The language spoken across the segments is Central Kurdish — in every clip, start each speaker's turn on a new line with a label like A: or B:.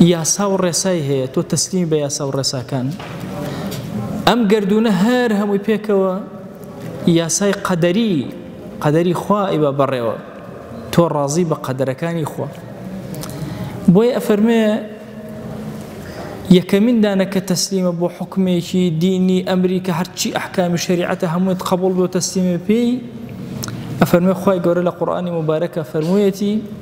A: یاسا و ڕێسای هەیە تۆ تەسلیمی بە یاسا و ڕێساکان ئەم گردونە هەر هەمووی پێکەوە یاسای قەدەری قەدەری خوا ئیبە بەڕێوە تۆ ڕازی بە قەدەرەکانی خۆ بۆی ئەفەرمێ یەکەمین دانە کە تەسلیمە بۆ حکومێکی دینی ئەمریکا هەرچی ئەحکامی شریعەتە هەمووت قبول بۆ تەسلیمە پێی ئەفەرمێ خی گەورە لە قورآانی مبارەکە فەرموویەتی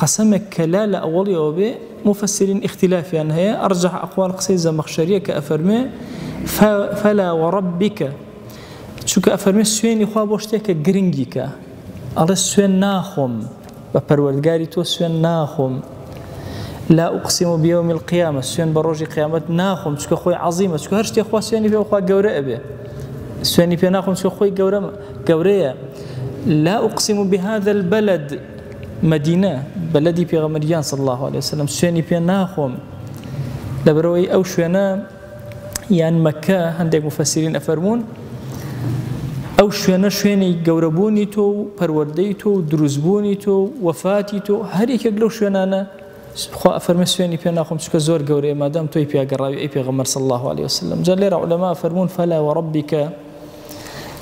A: قەسەمێک کە لا لە ئەوەڵی ئەوە بێ موفەسیرین ئیختیلافیان هەیە ئەڕجەح ئەقوال قسەی زەمەخشەریە کە ئەفەرمێ فەلا وەڕەبیکە چونکە ئەفەرمێ سوێنی خوا بۆ شتێکە گرنگی کە ئەڵێ سوێن ناخۆم بە پەروەردگاری تۆ سوێن ناخۆم لا ئوقسیم و بیەوە میل قیامە سوێن بە ڕۆژی قیامەت ناخۆم چکە خۆی عظیمە چکە هەر شتێ خوا سوێنی پێخوا گەورە ئەبێ سوێنی پێ ناخۆم چکە خۆی گەورە گەورەیە لا ئوقسیم و بهذا البلد مەدینە بە لەدی پێغەمبەر گیان صلی الله علیه وسلم سوێنی پێ ناخۆم لەبەرەوەی ئەو شوێنە یان مەکە هەندێک مفەسیرین ئەفەرمونون ئەو شوێنە شوێنی گەورەبوونی تۆ و پەروەردەی تۆ و دروستبوونی تۆ و وەفاتی تۆ هەریەکێک لەو شوێنانە خوا ئەفەرمە سوێنی پێ ناخۆم چکە زۆر گەورەیە مادەم تۆی پیاگەڕاوی ئەی پێغەمەر صلی الله عليه وسلم جا لێرە علەما فەرمونون فەلا وەڕبیکە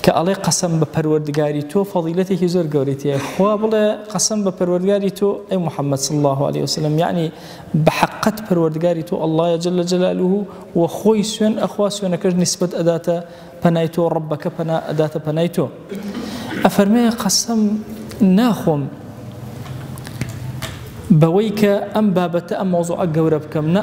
A: کە ئەڵێ قەسەم بە پەروەردگاری تۆ فەضیلەتێکی زۆر گەورەی تێ خوا بڵێ قەسەم بە پەروەردگاری تۆ ئەی محەممەد صلی الله عليه وسلم یعنی بە حقت پەروەردگاری تۆ الله جل جلاله و خۆی سوێن ئەخوا سوێنەکەش نسبت ئەداتە پەنای تۆ ڕبەکە پەنا ئەداتە پەنای تۆ ئەفەرمەیە قەسەم ناخۆم بەوەی کە ئەم بابەتە ئەم مۆزوعە گەورە بکەم نە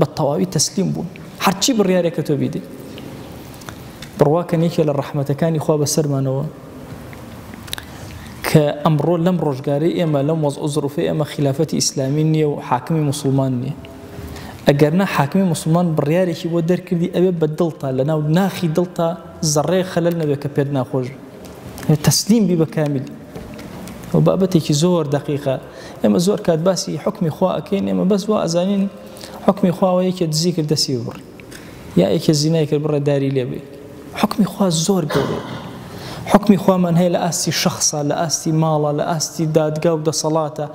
A: بە تەواوی تەسلیم بوون هەرچی بڕیارێکە تۆ بیدەی بڕواکە نیکێ لە ڕەحمەتەکانی خوا بەسەرمانەوە کە ئەمڕۆ لەم ڕۆژگاری ئێمە لەم وەز ئۆزرفی ئێمە خلافەتی ئیسلامی نییە و حاکمی مسلمان نییە ئەگەر نە حاکمی مسلمان بڕیارێکی بۆ دەرکردی ئەوێ بە دڵتا لە ناو ناخی دڵتا زەڕێ خەلەل نەبێت کە پێت ناخۆش تەسلیم بی بە کامیلی ئەو بابەتێکی زۆر دقیقە ئێمە زۆر کات باسی حکمی خوا ئەکەین ئێمە بەس وا ئەزانین حکمی خواوە یەکێ دزی کرد دەسی بڕی یا یەکێ زینای کرد بڕە داری لێ بێ حکمی خوا زۆر گەورە حکمی خوامان هەیە لە ئاستی شخصە لە ئاستی ماڵە لە ئاستی دادگا و دەسەڵاتە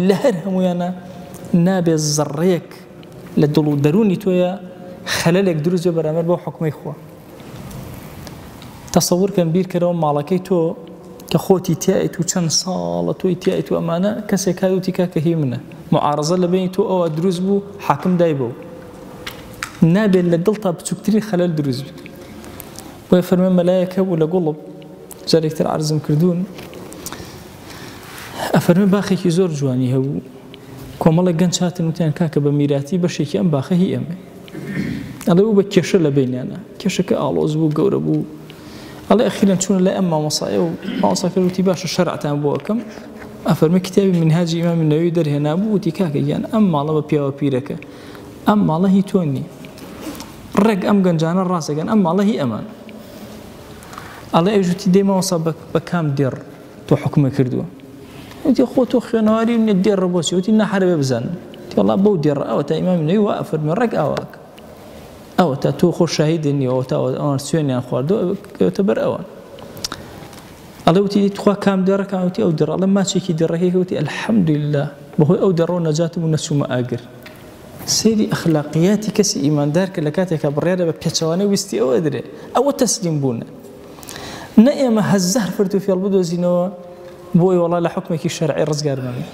A: لە هەر هەمویانە نابێ زڕێک لە دڵ و دەرونی تۆیە خەلەلێک دروست بەرامەر بۆ حکومەی خۆ تەسەور کەن بیرکەرەوە ماڵەکەی تۆ کە خۆتی تایت و چەند ساڵە تۆی تایت و ئەمانە کەسێک کاوتی کا کە هی منە معارزە لە بینی تۆ ئەوە دروست بوو حاکم دای بوو نابێت لە دڵ تا بچووکتری خەلەل دروست بێت بۆی فەرمە مەلایەک هەبوو لە گوڵب جارێکتر عرزم کردوون ئەفەرمی باخێکی زۆر جوانی هەبوو کۆمەڵی گەنج هاتن وتیان کاکە بە میراتی بەشێکی ئەم باخە هی ئەمە ئەڵێ و بە کێشە لە بەینیانا کێشەکە ئاڵۆز بوو گەورە بوو ئەڵێ ئەخیرەن چوون لای ئەم مامۆسایە و ماوەساکە وتی باشە شەرعتان بۆ ئەەکەم ئەفەرمی کتێبی منهاجی ئیمام نەوی دەرهێنا بوو وتی کاکە گیان ئەم ماڵە بە پیاوە پیرەکە ئەم ماڵە هی تۆ نییە ڕێک ئەم گەنجانە ڕاستەکەن ئەم ماڵە هی ئەمان ئەڵێ ئەوژوتی دێمەوەسا بە کام دێڕ تۆ حکومە کردووە وتی خۆ تۆ خوێنەواری منە دێ ڕبۆچی وتی نەحرەوێ بزان تێڵا بەو دێڕ ئەوە تا ئیمام نوێی وا ئەفەرمی ڕێک ئاواک ئەوە تا تۆ خۆ شاهید نیەوە تا ئەوان سوێنیان خواردو کەوتە بەر ئەوە ئەڵێ وتی تخوا کام دێڕەکان وتی ئەو دێڕ ئەڵێ ماچێکی دێڕەکەی وتی الحەمدلله بەهۆی ئەو دەڕۆ نەجاتم و نەچوومە ئاگر سری ئەخلاقیاتی کەسی ئیماندار کە لە کاتێکە بڕێرە بە پێچوانە ویستی ئەوە درێ ئەوە تەسلیم بوونە نە ئێمە هەزار فرت و فێڵ بدۆزینەوە بۆی وەڵا لە حوکمێکی شەرعی ڕزگار نابین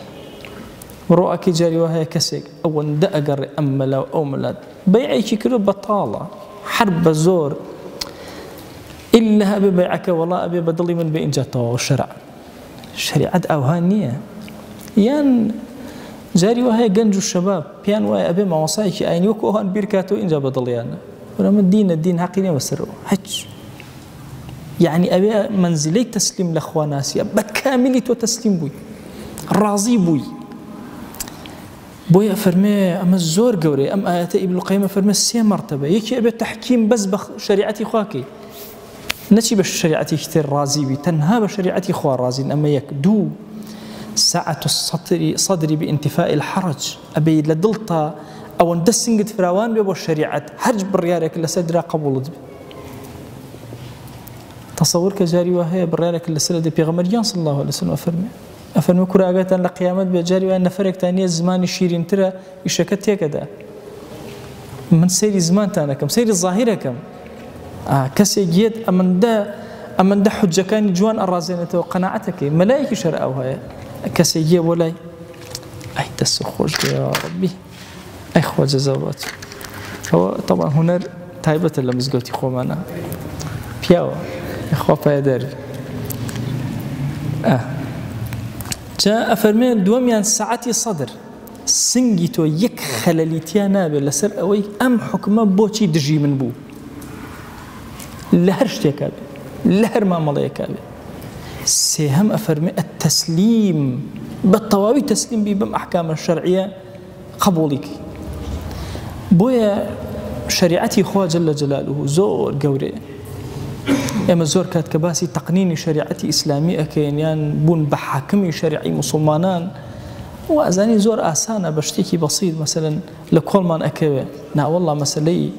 A: بڕۆ ئەکەی جاری وا هەیە کەسێک ئەوەندە ئەگەڕێ ئەم مەلا و ئەو مەلات بەیعێکی کردو بەتاڵە حەر بە زۆر ئللا هەبێ بەیعەکە وەڵا ئەبێ بە دڵی من بێ ئینجا تەواو شەرع شەریعەت ئەوها نییە یان جاری وهەیە گەنج و شەباب پێیان وایە ئەبێ مامۆسایەکی ئاینی وەکو ئەوان بیرکاتەوە اینجا بەدڵیانە بەمە دینە دین حەقی نیە بەسەرەوە هەچ یعنی ئەوێ منزلەی تەسلیم لە خواناسیە بە کامیلی تۆ تەسلیم بووی ڕازی بووی بۆیە فەرمێ ئەمە زۆر گەورەی ئەم ئاەتە ئیبلقەیمە فەرمە سێ مەرتەبە یەکی ئەبێت تحکیم بەس بە شریعەتی خواکەی نەچی بە شەریعەتێکی تر ڕازی بی تەنها بە شەریعەتی خوا ڕازین ئەمە یەک دوو ساعت سەتری سەدری بئینتیفاء الحرج ئەبێ لە دڵتا ئەوەندە سنگت فراوان بێ بۆ شەریعەت هەرج بڕیارێک لەسەر درا قبولت بێ تصور کە جاری وە هەیە بڕارێک لەسەر دە پێغەمەریان صلی الله عليه وسلم فەرمی ئەفەرمە کوراگەتان لە قیامەت بێ جاری وان نەفرێکتان نیە زمانی شیرینترە ئیشەکە تێکەدا من سەیری زمانتانەکەم سەیری ظاهرەکەم کەسێ گێت ئەمندە ئەمندە حجەکانی جوان ئەڕازێنێتەوە قەنەعەتەکەی مەلایەکی شەر ئەو هەیە کەسێ گێ بۆ لای ئەی دەست خۆش ڕبی ئەی خۆ جەزەڵات ئەوە تەڵا هوەر تایبەتە لە مزگەوتی خۆمانە پیاوە خۆ پایدەر جا ئەفەرمێن دووەمیان سعاتی سەدر سنگی تۆ یەک خەلەلی تیا نابێت لەسەر ئەوەی ئەم حکومە بۆچی دژی من بوو لە هەر شتێکا بێت لە هەر مامەڵەیەکا بێت سێهەم ئەفەرمێ ئەتەسلیم بە تەواوی تەسلیم بی بم ئەحکامە شەرعیە قبوڵی بۆیە شریعەتی خواجل لە جەلال و زۆر گەورێ ئێمە زۆر کات کە باسی تەقنینی شریعەتی ئیسلامی ئەکەین یان بوون بە حاکمی شریعی مسلمانان وازانی زۆر ئاسانە بە شتێکی بەسیت مەسەلەن لە کۆڵمان ئەکەوێ ناوەڵا مەسلەی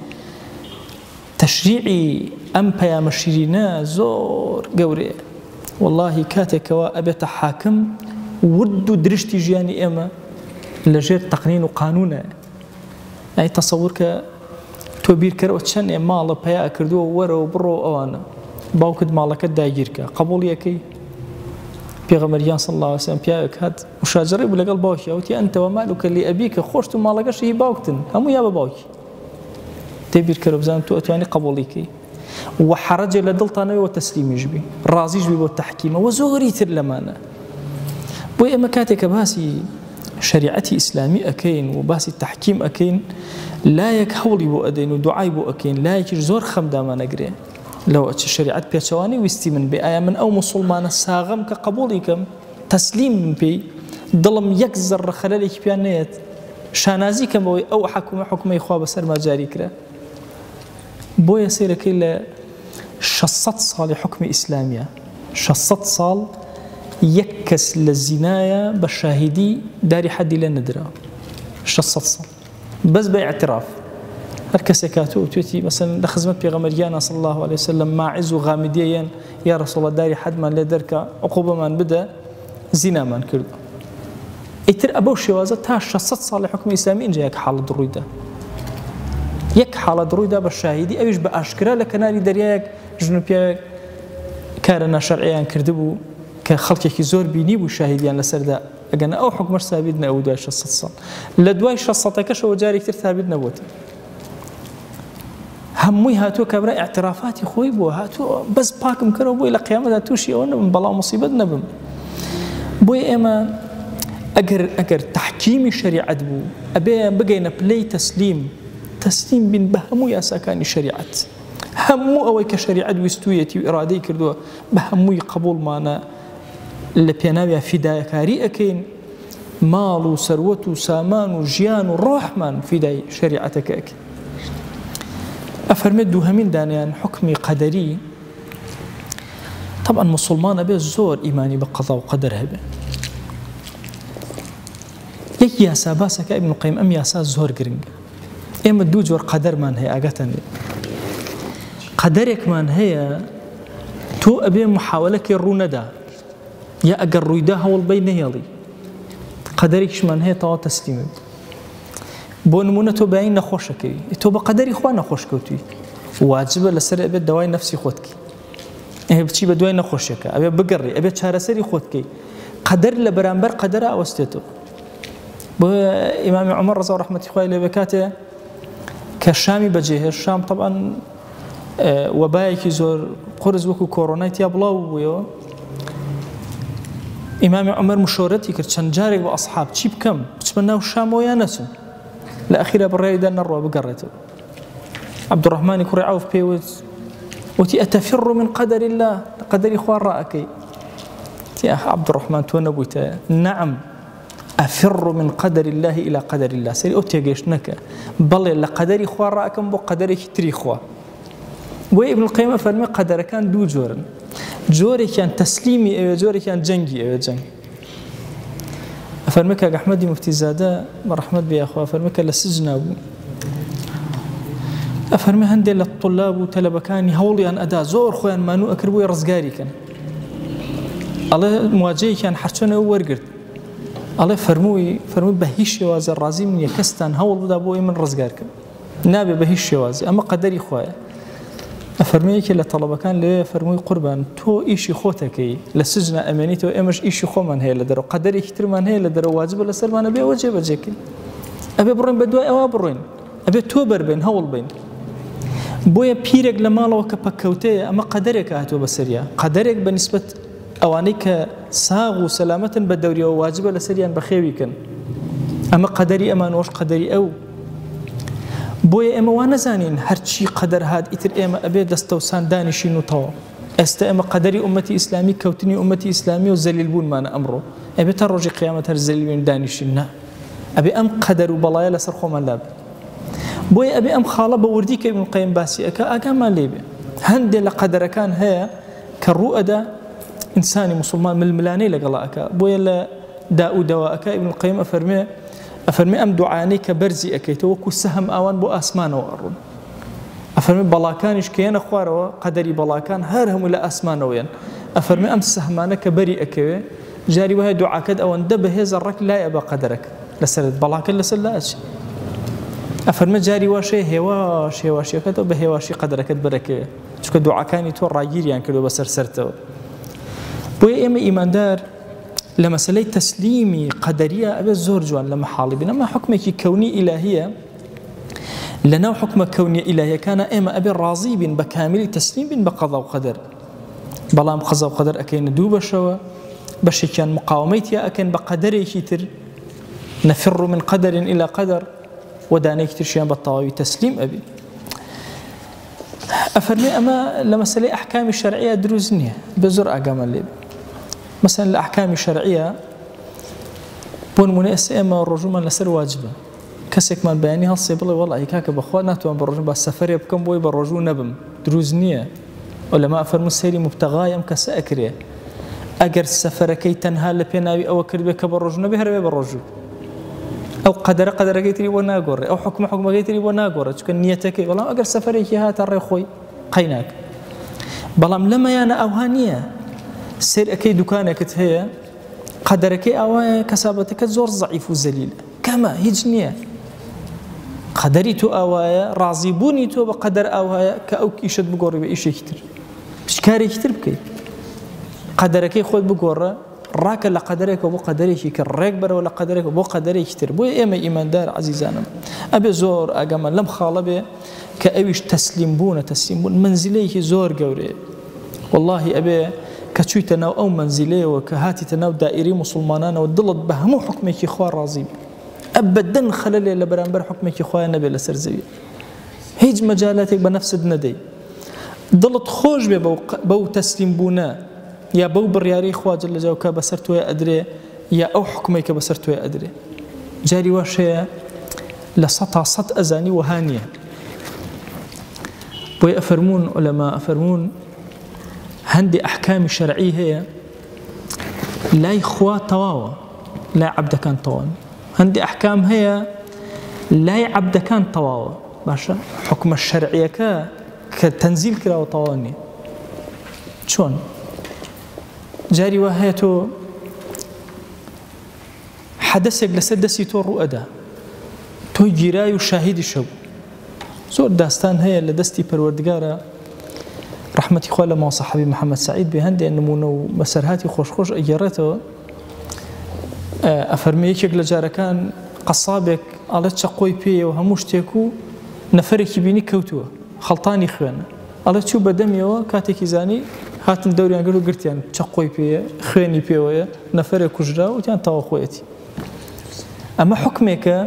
A: تەشریعی ئەم پەیامە شیرینە زۆر گەورەیە واللهی کاتێکەوە ئەبێتە حاکم ورد و درشتی ژیانی ئێمە لەژێر تەقنین و قانونە ئەی تەسەور کە تۆ بیرکەرەوە چەند ئێ ماڵە پیا کردووە وەرەوە بڕۆ ئەوانە باوکت ماڵەکەت داگیرکە قبولیەکەی پێغەمەریان سڵ لاوەسیان پیاوێک هات مشاجڕی بوو لەگەڵ باوکی ئەوتی ئەنتەوە مالوکە لێ ئەبی کە خۆشت و ماڵەکەشی باوکتن هەموو یا بە باوکی تێبیرکەرە بزان تو ئەتوانی قبولیکەی وە حەڕەجێ لە دڵتا نەبێ وە تەسلیمیش بی ڕازیش بی بۆ تەحکیمە وە زۆری تر لەمانە بۆی ئێمە کاتێک کە باسی شریعەتی ئیسلامی ئەەکەین و باسی تحکیم ئەەکەین لایەک هەوڵی بۆ ئەدەین و دوعای بۆ ئەەکەین لایەکیش زۆر خەمدامانەگرێ لەوە چ شریعەت پێچەوانی ویستی من بێ ئایا من ئەو مسلمانە ساغم کە قبولی کەم تەسلیم من پێی دڵم یەک زەڕە خەلەلێکی پیان نێت شانازی کەمەوەی ئەو حکومە حکومەی خوا بەسەر ماجاری کرا بۆیە سەیرەکەی لە شەش سەد ساڵی حکومی ئیسلامیە شەش سەد ساڵ یەک کەس لە زینایە بە شاهیدی داری حەدی لێ نەدرا شەش سەد ساڵ بەس بە اعتراف هەر کەسێک کاتو توێتی مەسن لە خزمەت پێغەمەریانە سڵ الله عليه وسلم ماعز و غامیدیەن یا رسوڵە داری حەدمان لێ دەرکە عقوبەمان بدە زینامان کردوە ئیتر ئەبەو شێوازە تا 600 ساڵی حکم ئیسلامی ئینجا یەک حاڵت ڕوویدا یەک حاڵت ڕوویدا بە شاهیدی ئەویش بە ئاشکرا لە کەناری دەریایەک ژن و پیاوێک کارە ناشەرعیان کردبوو کە خەڵکێکی زۆر بینی بوو شاهیدیان لەسەردا ئەگەن ئەو حکومەر سابیت نەوە دوای 600 ساڵ لە دوای 600ەکەشەوە جارێکتر سابیت نەبووتن هەمووی هاتووە کابرا اعترافاتی خۆی بووە هاتووە بەس پاکم کەەوە بۆی لە قیامەدا تووشی ئەوە نەبم بەڵام مصیبەت نەبم بۆی ئێمە ئەگەر ئەگەر تحکیمی شریعەت بوو ئەبێ بگەینە پلەی تەسلیم تەسلیم بین بە هەموو یاساکانی شریعەت هەموو ئەوەی کە شریعەت ویستویەتی و ئرادەی کردووە بە هەمووی قبولمانە لە پێناوی فیدایەکاری ئەەکەین ماڵ و سەروەت و سامان و ژیان و ڕۆحمان فیدای شریعەتەکەک ئەفەرمێت دووهەمین دانیان حکمی قەدەری طبعا مسلمانە بێ زۆر ئیمانی بە قەزا و قەدەر هەبێ یەک یاسا باسەکە ئەبن قیم ئەم یاسا زۆر گرنگە ئێمە دوو جۆر قەدەرمان هەیە ئاگاتان لێ قەدەرێکمان هەیە تۆ ئەبێ محاولەکەی ڕوو نەدا یا ئەگەر ڕوویدا هەوڵ بەی نەهێڵی قەدەرێکیشمان هەیە تەوا تەسلیمت بۆ نمونە تۆ بەین نەخۆشەکەی تۆ بە قەدەری خوا نەخۆش کەوتوی واجبە لەسەر ئەبێت داوای نفسی خۆتکی ئەێ بچی بە دوای نەخۆشیەکە ئەوێ بگەڕی ئەبێت چارەسەری خۆتکەی قەدەر لە بەرامبەر قەدەر ئەوەستێتەوە بۆ ئیمامی عمر ڕزا ڕحمەتی خخوای لەوێ کاتێ کە شامی بەجێهێش شام طبعاان وەبایەکی زۆر قورس وەکو کۆرۆنای تیا بڵاو بوویەوە ئیمامی عمر مشۆرەتی کرد چەند جارێک بە ئەسحاب چی بکەم بچمە ناو شامەوە یا نەچم لە ئەخیرە بڕێدا نەڕوە بگەڕێتەوە عبدڕحمانی کوڕی عوف پێوت وتی ئەتەفر من قەدەری الله قەدەری خوا ڕائەکەی عبدڕحمان تۆ نەبوویتە نەعم افر من قدر الله الى قدر الله سری ئەو تێگەشتنەکە بەڵێ لە قەدەری خوا ڕاکەم بۆ قەدەرێکی تری خوا بۆ ابن القیم فەرمی قەدەرەکان دوو جۆرن جۆرێکیان تەسلیمی ئەوێ جۆرێکیان جەنگی ئەوێ جەنگ فەرمی کاک ئەحمەدی مفتیزادە بە ڕەحمەت بێ یاخوا فەرمی کە لە سجنا بوو ئەفەرمی هەندێک لە طلاب و تەلەبەکانی هەوڵیان ئەدا زۆر خۆیان مانوو ئەکردبووی ڕزگاریکەن ئەڵێ مواجەیەکیان حەرچۆنەوە وەرگرت ئەڵێ فەرمووی فەرمووی بە هیچ شێوازە ڕازیم نییە کەستان هەوڵ بدا بۆی من ڕزگار کرد نابێ بە هیچ شێوازی ئەمە قەدەری خوایە فەرموویەکی لە تەڵەبەکان لێ فەرمووی قوربان تۆ ئیشی خۆتەکەی لە سجنە ئەمێنیتەوە ئێمەش ئیشی خۆمان هەیە لە دەرەوە قەدەرێکی ترمان هەیە لە دەرەوە واجبە لە سەرمانە بێ وەجێ بەجێکن ئەبێ بڕێن بە دوای ئەوە بڕێن ئەبێت تۆ بەربێن هەوڵ بین بۆیە پیرێک لە ماڵەوە کە پەککەوتەیە ئەمە قەدەرێک هاتووە بەسەریا قەدەرێک بە نسبت ئەوانەی کە ساغ و سەلامەتن بە دەوریەوە واجبە لەسەریان بەخێوی کەن ئەمە قەدەری ئەمان وەش قەدەری ئەو بۆیە ئێمە وا نەزانین هەرچی قەدەر هاات ئیتر ئێمە ئەبێ دەستەوسان دانیشین و تەواو ئێستا ئێمە قەدەری عومەتی ئیسلامی کەوتنی عومەتی ئیسلامی و زەلیل بوونمانە ئەمڕۆ ئەبێ تا ڕۆژی قیامەت هەر زەلیلوین دانیشین نا ئەبێ ئەم قەدەر و بەڵایە لەسەر خۆمان لاب بۆیە ئەبێ ئەم خاڵە بە وردی کە من قیم باسی ئەەکە ئاگامان لێبێ هەندێک لە قەدەرەکان هەیە کە ڕوو ئەدا ئینسانی موسڵمان ململانێی لەگەڵا ئەکا بۆیە لە داء و دەوا ئەکا ئیبن القیم ئەفەرمێ ئەفەرمێ ئەم دوعانەی کە بەرزی ئەکەیتەوە وەکو سەهم ئاوان بۆ ئاسمانەوە ئەڕون ئەفەرمێ بەڵاکانیش کە یەنە خوارەوە قەدەری بەڵاکان هەر هەموو لە ئاسمانەوەیەن ئەفەرمێ ئەم سەهمانە کە بەری ئەکەوێ جاری وایە دوعاکەت ئەوەندە بەهێزە ڕەک لایە بە قەدەرەک لەسەرت بەڵاکەت لەسەر لا ئەچێ ئەفەرمە جاری واشێ هێواش هێواشیەکەتەوە بە هێواشی قەدەرەکەت بەرەکەوێ چونکە دوعاکانی تۆ ڕاگیریان کردو بەسەر سەرتەوە بۆیە ئێمە ئیماندار لە مەسلەی تەسلیمی قەدەریە ئەبێت زۆر جوان لە محاڵی بنەما حکمێکی کەونی ئیلاهیە لە ناو حکومە کەونیە ئیلاهیەکانە ئێمە ئەبێ ڕازی بین بە کامیلی تەسلیم بین بە قەضا و قەدەر بەڵام قەزا و قەدەر ئەەکەینە دوو بەشەوە بەشێکیان مقاومەی تیا ئەکەن بە قەدەرێکی تر نەفر من قەدەرین ئیلا قەدەر ودانێکی ترشیان بە تەواوی تەسلیم ئەبی ئەفەرمێ ئەمە لە مەسەلەی ئەحکامی شەرعیە دروست نییە بە زۆر ئاگامە لێ مەسەن لە ئەحکامی شەرعیە بۆ نمونە ئێستا ئێمە ڕۆژومان لەسەر واجبە کەسێکمان بەیانی هەڵسێ بڵێ وەڵ ئەیکاکە بەخوا ناتوان بە ڕۆژن بە سەفرێ بکەم بۆی بە ڕۆژوو نەبم دروست نییە و لەما فەرمو سەیری مبتەغای ئەم کەسە ئەکرێ ئەگەر سەفەرەکەی تەنها لە پێناوی ئەوە کردبێت کە بە ڕۆژ نەبێ هەرێ بە ڕۆژوو ئەو قەدەرە قەدەرەکەی تری بۆ ناگۆڕێ ئەو حکومە حکومەکەی تری بۆ ناگۆڕێت چکە نیەتەکەی بەڵام ئەگەر سەفرێکی هاتە ڕێ خۆی قەیناک بەڵام لەمەیانە ئەوها نییە سێر ئەەکەی دوکانێکت هەیە قەدەرەکەی ئاوایە کەسابەتەکە زۆر زعیف و زەلیل کەمە هیچ نییە قەدەری تۆ ئاوایە ڕازی بوونی تۆ بە قەدەر ئاوایە کە ئەو ئیشت بگۆڕی بە ئیشێکی تر شکارێکی تر بکەیت قەدەرەکەی خۆت بگۆڕە ڕاکە لە قەدەرێکەوە بۆ قەدەرێکی کە ڕێک بەرەوە لە قەدەرێکەوە بۆ قەدەرێکی تر بۆی ئێمە ئیماندار عزیزانم ئەبێ زۆر ئەگەمە لەم خاڵە بێ کە ئەویش تەسلیم بوونە تەسلیم بوون منزلەیەکی زۆر گەورێ واللهی ئەبێ کە چوویتە ناو ئەو منزلەیەوە کە هاتیتە ناو دائری مسلمانانەوە دڵت بە هەموو حکمێکی خوا ڕازی ئەبدەن خەلە لێ لە بەرامبەر حکمێکی خۆیان نەبێت لەسەر زەوی هیچ مەجالاتێک بە نەفست نەدەی دڵت خۆش بێ بەو تەسلیم بوونە یا بەو بڕیارەی خوا جل جاو کە بەسەر تۆێ ئەدرێ یا ئەو حکومەی کە بەسەر تۆێ ئەدرێ جاری واش هەیە لە سە تا سەد ئەزانی وەها نییە بۆی ئەفەرمونون ئۆلەما ئەفەرمونون هەندێ ئەحکامی شەرعی هەیە لای خوا تەواوە لای عبدەکان تەوان هەندێ ئەحکام هەیە لای عبدەکان تەواوە باشە حکومە شەرعیەکە کە تەنزیل کراوە تەواو نیە چۆن جاری وا هەیە تۆ حەدەسێک لەسەر دەستی تۆ ڕوئەدا تۆ گیرای و شاهیدی شەو زۆر داستان هەیە لە دەستی پەروەردگارە ڕحمەتی خۆ لە ماوسەحبی محەممەد سعید بێ هەندێک نمونە و بەسەرهاتی خۆشخۆش ئەگەڕێتەوە ئەفەرمێ یەکێک لە جارەکان قەسابێک ئەڵێ چەقۆی پێیە و هەموو شتێک و نەفرێکی بینی کەوتووە خەڵتانی خوێنە ئەڵێ چوو بە دەمیەوە کاتێکی زانی هاتن دەوریان گەر و گرتیان چەقۆی پێە خوێنی پێوەیە نەفرێ کوژرا وتیان تاوەخۆیەتی ئەمە حکمێکە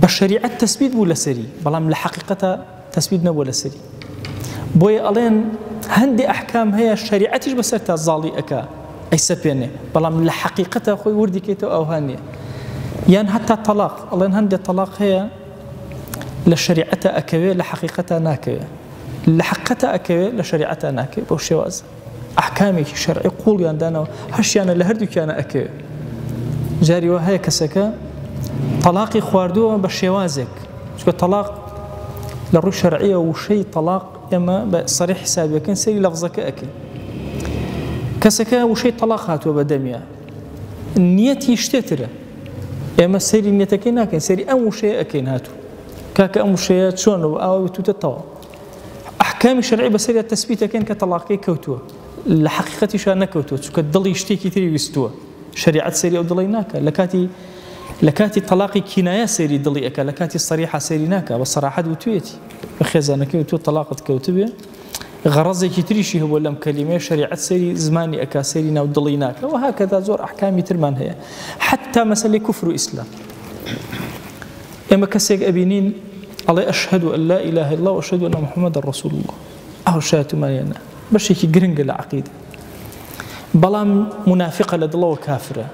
A: بە شریعەت تەسبیت بوو لەسەری بەڵام لە حقیقەتە تەسبیت نەبووە لەسەری بۆیە ئەڵێن هەندێ ئەحکام هەیە شەریعەتیش بەسەر تا زاڵی ئەکا ئەی سەپێنێ بەڵام لە حەقیقەتە خۆی وردی کەیتەوە ئەوهانە یان هەتا تەلاق ئەڵێن هەندێ تەلاق هەیە لە شریعەتە ئەکەوێ لە حقیقەتە ناکەوێ لە حقەتە ئەکەوێ لە شریعەتە ناکەێت بۆ شێوازە ئەحکامێکی شەرعی قوڵیان دانەوە هەشیانە لە هەردووکیانە ئەکەوێت جاری وە هەیە کەسەکە تەلاقی خواردووە بە شێوازێک چکە تەلاق لە ڕوو شەرعیە وشەی تەلاق ئێمە بە سەری حسابەکەن سەری لەفزەکە ئەکەین کەسەکە وشەی تەلاق هاتووە بە دەمیا نیەتی شتێترە ئێمە سەری نیەتەکەی ناکەین سەری ئەم وشەیە ئەەکەین هاتوو کاکە ئەم وشەیە چۆن و ئاوە توتە تەواو ئەحکامی شەرعی بەسەریا تەسبیت دەکەین کە تەڵاقەکەی کەوتووە لە حەقیقەتیشا نەکەوتووە چونکە دڵی شتێکی تری ویستووە شەریعەت سەری ئەو دڵی ناکە لە کاتی لە کاتی تەلاقی کینایە سەیری دڵی ئەکە لە کاتی سەریحا سەیری ناکە بە سەراحەت وتوێتی بە خێزانەکەی و تۆ تەلاقت کەوتبێ غەڕەزێکی تریشی هەبوو لەم کەلیمەیە شریعەت سەری زمانی ئەکا سەری ناو دڵی ناکە و هاکەدا زۆر ئەحکامی ترمان هەیە حتا مەسلی کوفر و ئیسلام ئێمە کەسێک ئەبینین ئەڵێ ئەشهەدو ئەن لا ئیلاهە ئیللا و ئەشهەدو ئەنە محمدە رسول اللە ئەوە شایەتومانیانە بەشێکی گرنگە لە عەقیدە بەڵام منافقە لە دڵەوە کافرە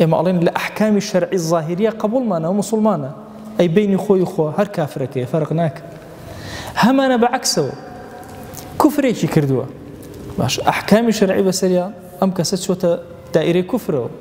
A: ئێمە ئەڵێن لە ئەحکامی شەرعی ظاهریە قبولمانەوە مسلمانە ئەی بینی خۆی خۆ هەر کافرەکەی فەرق ناکە هەمانە بە عکسەوە کوفرێکی کردووە باش ئەحکامی شەرعی بەسەریا ئەم کەسە چۆتە دائیرەی کوفرەوە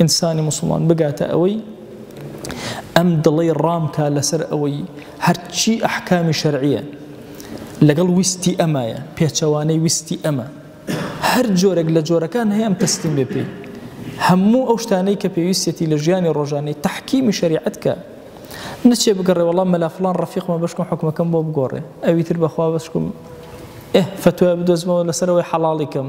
A: ئینسانی موسڵمان بگاتە ئەوەی ئەم دڵەی ڕامکە لەسەر ئەوەی هەرچی ئەحکامی شەرعیە لەگەڵ ویستی ئەمایە پێچەوانەی ویستی ئەمە هەر جۆرێک لە جۆرەکان هەیەم تەستیم بێ پێی هەموو ئەو شتانەی کە پێویستێتی لە ژیانی ڕۆژانەی تحکیمی شریعت کە نەچێ بگەڕێ وەڵام مەلافلان ڕفیقمە بشکم حکومەکەم بۆ بگۆڕێ ئەوی تر بەخوا بشکم ئه فتوای بدۆزمەوە لەسەرەوەی حەڵاڵیکەم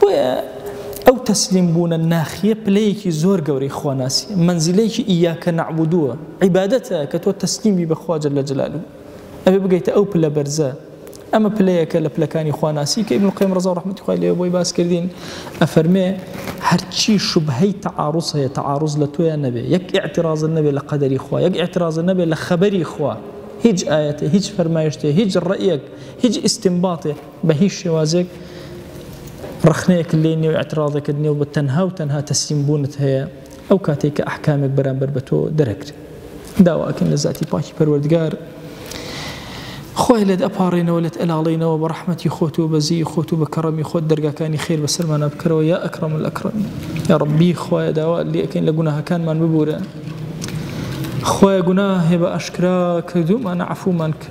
A: بۆیە ئەو تەسلیم بوونە ناخیە پلەیەکی زۆر گەورەی خواناسی مەنزیلەیەکی ئیاکە نەعبودووە عیبادەتە کە تۆ تەسلیم بی بەخوا جل لە جلالو ئەبێ بگەیتە ئەو پلە بەرزە ئەمە پلەیەکە لە پلەکانی خواناسی کە ابن القیم رضا و رحمت خوای لێ بۆی باس کردین ئەفەرمێ هەرچی شوبهەی تعارض هەیە تعارض لە تۆیان نەبێ یەک اعتراض نەبێ لە قەدەری خوا یەک اعتراض نەبێ لە خەبەری خوا هیچ ئاەتێ هیچ فەرمایشتێ هیچ ڕەیەک هیچ ئیسیمباتێ بە هیچ شێوازێک ڕەخنەیەکت لێ نیە و ئیعتراضێکت نیە و بە تەنها و تەنها تەسلیم بوونت هەیە ئەو کاتەی کە ئەحکامێک بەرامبەر بە تۆ دەرەکرێ داوا ئەکەین لە زاتی پاکی پەروەردگار خۆی لێت ئەپاڕێنەوە لێت ئەلاڵینەوە بە ڕەحمەتی خۆت و بەزی خۆت و بە کەڕەمی خۆت دەرگاکانی خێر بەسەرمانە بکەرەوە یا ئەکڕم لە ئەکڕم یا ڕبی خۆیە داوا لەکەین لە گوناهەکانمان ببورە خۆی گوناه هێ بە ئەشکرا کردومان عفومان کە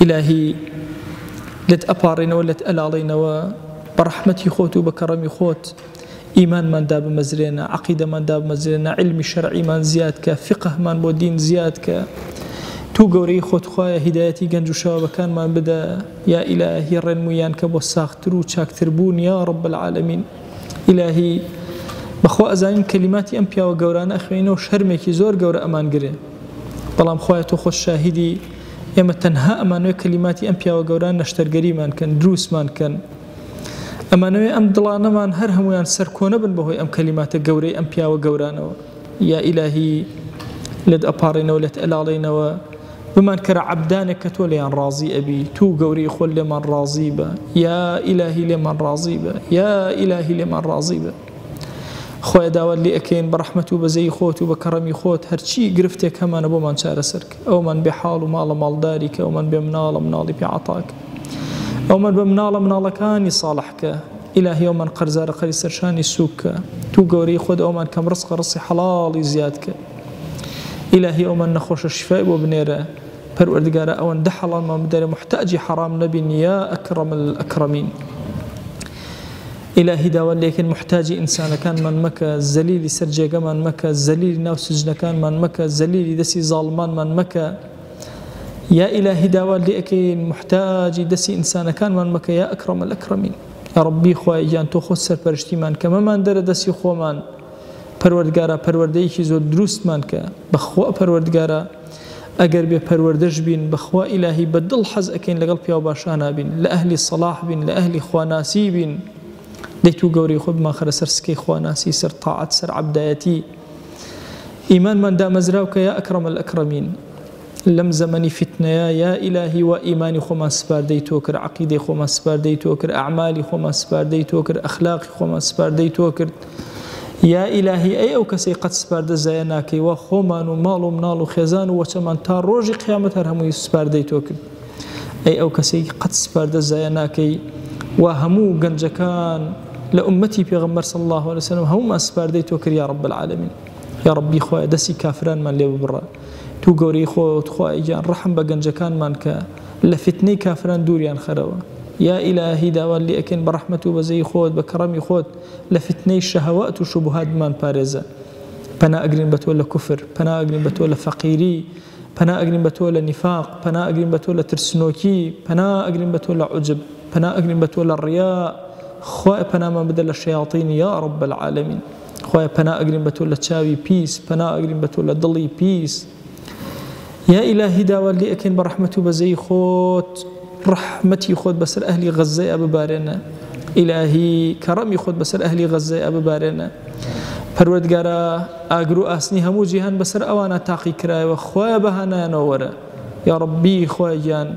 A: ئیلاهی لێت ئەپاڕێنەوە لێت ئەلاڵێنەوە بە ڕەحمەتی خۆت و بە کەڕەمی خۆت ئیمانمان دابمەزرێنە عقیدەمان دابمەزرێنە علمی شەرعیمان زیاد کە فقهمان بۆ دین زیاد کە تو گەورەی خۆتخوایە هیدایەتی گەنج و شەوەکانمان بدە یا ئیلاهی ڕێنمویان کە بۆ ساختتر و چاکتر بوون یا ڕب العالمین ئیلاهی بەخوا ئەزانین کەلیماتی ئەم پیاوە گەورانە ئەخوێنەوە شەرمێکی زۆر گەورە ئەمان گرێ بەڵام خوایە تۆ خۆت شاهیدی ئێمە تەنها ئەمانەوێ کەلیماتی ئەم پیاوە گەوران نەشتەرگەریمان کەن دروسمان کەن ئەمانەوێ ئەم دڵانەمان هەر هەمویان سەرکۆنەبن بەهۆی ئەم کەلیماتە گەورەی ئەم پیاوە گەورانەوە یا ئیلاهی لێت ئەپاڕێنەوە لێت ئەلاڵێنەوە بمان کەرە عەبدانێک کە تۆ لێیان ڕازی ئەبی تو گەورەی خۆل لێمان ڕازی بە یا ئیلاهی لێمان ڕازی بە یا ئیلاهی لێمان ڕازی بە خوایە داوات لێ ئەکەین بە ڕەحمەت و بەزەیی خۆت و بە کەڕەمی خۆت هەرچی گرفتێک هەمانە بۆمان چارەسەر کە ئەومان بێ حاڵ و ماڵە ماڵداری کە ئەومان بێ مناڵە مناڵی پێ عەتا کە ئەومان بە مناڵە مناڵەکانی ساڵح کە ئیلاهی ئەومان قەرزارە قەری سەرشانی سوک کە تو گەورەی خۆت ئەومان کەم ڕسقە ڕسی حەڵاڵی زیاد کە ئیلاهی ئەومان نەخۆشە شیفای بۆ بنێرە پەروەردگارە ئەوەندە حەڵالمان بدەرێ موحتاجی حەڕام نەبین یا ئەکرەم ئەکرەمین. ئیلاهی داوات لێکەین موحتاجی ئینسانەکانمان مەکە زەلیلی سەر جێگەمان مەکە زەلیلی ناو سجنەکانمان مەکە زەلیلی دەسی زاڵمانمان مەکە یا ئیلاهی داوات لێکەین موحتاجی دەسی ئینسانەکانمان مەکە یا ئەکرەم الأکرمین یا ربی خوای گیان تۆ خۆت سەرپەرشتیمان کە مەمان دەرە دەسی خۆمان پەروەردگارا پەروەردەیەکی زۆر دروستمان کە بەخوا پەروەردگارا ئەگەر بێ پەروەردەش بین بەخوا ئیلاهی بە دڵ حەز ئەکەین لەگەڵ پیاو باشانا بین لە ئەهلی سەڵاح بین لە ئەهلی خواناسی بین دەی تو گەورەی خۆت بمانخەرە سەر سکەی خواناسی سەر تاعەت سەر عەبدایەتی ئیمانمان دامەزراو کە یا ئەکرەم الئەکرەمین لەم زەمەنی فیتنەیە یا ئیلاهی وا ئیمانی خۆمان سپاردەی تۆ کرد عقیدەی خۆمان سپاردەی تۆ کرد ئەعمالی خۆمان سپاردەی تۆ کرد ئەخلاقی خۆمان سپاردەی تۆ کرد یا ئیلاهی ئەی ئەو کەسەی قەت سپاردە زایە ناکەی وا خۆمان و ماڵ و مناڵ و خێزان و وەچەمان تا ڕۆژی قیامەت هەر هەمووی سپاردەی تۆ کرد ئەی ئەو کەسەی قەت سپاردە زایە ناکەی وا هەموو گەنجەکان لە ئومەتی پێغەمبەر صلی الله علیه وسلم هەموومان سپاردەی تۆ کرد یا رب العالمین یا ربی خوایە دەستی کافرانمان لێ ببڕە تو گەورەی خۆت خوای گیان ڕحم بە گەنجەکانمان کە لە فتنەی کافران دووریان خەرەوە یا ئیلاهی داوات لێ ئەکەین بە ڕەحمەت و بەزەی خۆت بە کەڕەمی خۆت لە فیتنەی شەهەوات و شوبهات بمان پارێزە پەنا ئەگرین بە تۆ لە کوفر پەنا ئەگرین بە تۆ لە فەقیری پەنا ئەگرین بە تۆ لە نیفاق پەنا ئەگرین بە تۆ لە ترسنۆکی پەنا ئەگرین بە تۆ لە عجب پەنا ئەگرین بە تۆ لە ڕیا خوای پەنامان بدە لە شەیاطینی یا رب العالمین خوای پەنا ئەگرین بە تۆ لە چاوی پیس پەنا ئەگرین بە تۆ لە دڵی پیس یا ئیلاهی داوات لێ ئەکەین بەڕەحمەت و بەزەیی خۆت ڕەحمەتی خۆت بەسەر ئەهلی غەززەیا ببارێنە ئیلاهی کەڕەمی خۆت بەسەر ئەهلی غەززەیا ببارێنە پەروەردگارە ئاگر و ئاسنی هەموو جیهان بەسەر ئەوانە تاقی کرایەوە خۆیان بەهانایانەوە وەرە یا ڕبی خۆیان گیان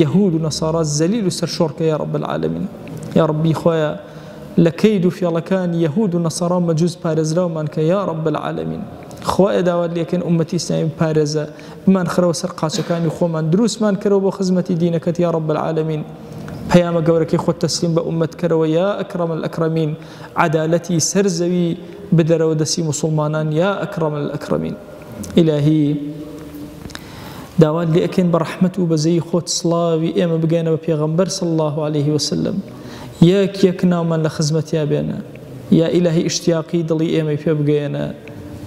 A: یەهود و نەسارا زەلیل و سەرشۆڕکە یا ڕب العالمین یا ڕبی خۆیان لە کەید و فێڵەکان یەهود و نەسارا مەجووز پارێزراومان کە یا ڕب العالمین خوایە داوات لێکەین ئومەتی ئیسلامی بپارێزە بمان خەرەوە سەر قاچەکانی خۆمان دروستمان کەرەوە بۆ خزمەتی دینەکەت یا رب العالمین پەیامە گەورەکەی خۆت تەسلیم بە ئومەت کەرەوە یا ئەکرم الأکرمین عدالەتی سەر زەوی بدەرەوە دەسی مسلمانان یا ئەکرم الأکرمین ئیلاهی داوات لێکەین بە ڕحمت و بەزەی خۆت سڵاوی ئێمە بگەێنەوە پێغمبەر سڵ الله عليه وسلم یەک یەک ناومان لە خزمەتیا بێنە یا ئیلاهی ئیشتیاقی دڵی ئێمەی پێ بگەیەنە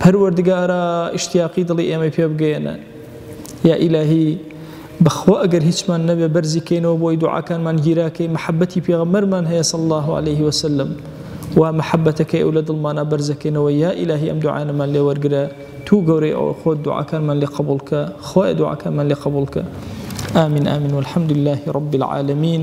A: پەروەردگارا ئیشتیاقی دڵی ئێمەی پێ بگەیەنە یا ئیلاهی بەخوا ئەگەر هیچمان نەبێ بەرزی کەینەوە بۆی دوعاکانمان گیراکەی محەبەتی پێغەمەرمان هەیە صلی الله علیه وسلم وا محەبەتەکەی ئەو لە دڵمانە بەرزەکەینەوە یا ئیلاهی ئەم دوعانەمان لێ وەرگرە تو گەورەی ئەوە خۆت دوعاکانمان لێ قبوڵکە خوای دوعاکانمان لێ قبوڵکە آمین آمین والحمد لله رب العالمین